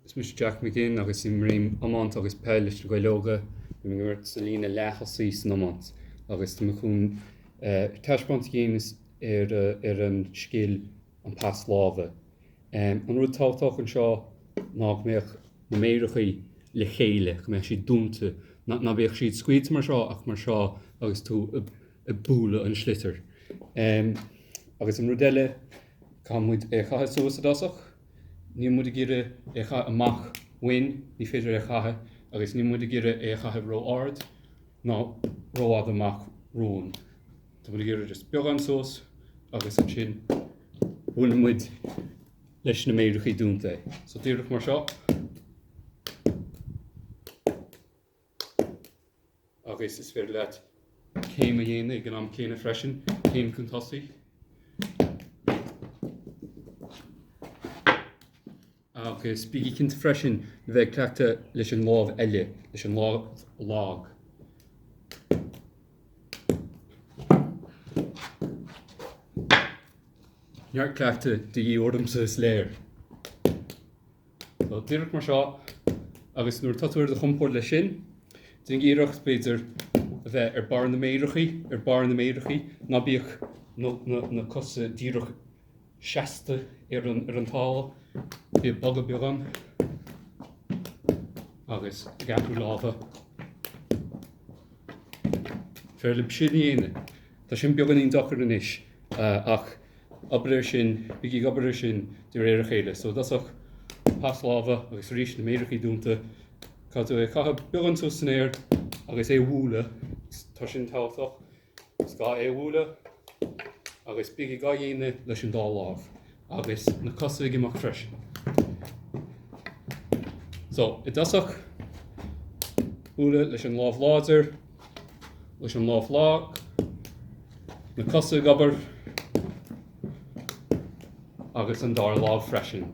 Is mise Jack McGinn agus imrím iomáint agus peil leis na Gaeil Óga. Bím ag imirt sa líne leath-thosaigh san iomáint agus tá mé chun taispeáint a dhéanamh ar an scil an pas láimhe. An rud tábhachtach anseo ná go mbeadh na méarachaí le chéile, go mbeadh siad dúnta, ná bíodh siad scaoilte mar seo ach mar seo agus tú ag bualadh an sliotair. Agus an rud eile, caithfidh muid é a chaitheamh suas i dtosach. Níl muid ag iarraidh é a chaitheamh amach uainn, ní féidir é a chaitheamh agus níl muid ag iarraidh é a chaitheamh ró-ard ná rófhada amach romhainn. Tá muid ag iarraidh just beagán suas agus ansin buaileann muid leis na méarachaí dúnta é. So díreach mar seo. Agus is féidir leat céim a dhéanamh ag an am céanna freisin, céim chun tosaigh. Agus bígí cinnte freisin le bheith ag cleachtadh leis an lámh eile, leis an lámh lag. Neart cleachtadh de dhíth ormsa is léir. So díreach mar seo agus nuair atá tú ar do chompord leis sin, déan iarracht, b'fhéidir, a bheith ar, ar barr na méarachaí, ná bíodh na cosa díreach seasta ar an talamh, bíodh bogadh beag ann agus ag athrú lámha. Féaráilte sin a dhéanamh. Tá sin beagáinín deacair anois ach obair air sin, bígí ag obair air sin de réir a chéile. So i dtosach, pas láimhe agus arís na méarachaí dúnta. Caithfidh tú é a chaitheamh beagán suas san aer agus é a bhualadh. Tá sin tábhachtach. Is gá é a bhualadh agus bígí á dhéanamh leis an dá lámh agus na cosa ag imeacht freisin. So i dtosach, bualadh leis an lámh láidir. leis an lámh lag, na cosa ag obair agus an dara lámh freisin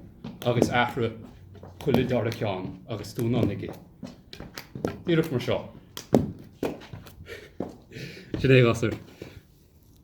agus athraigh chuile dhara ceann agus tú in ann aige. Díreach mar seo. Sin é a ghasúir.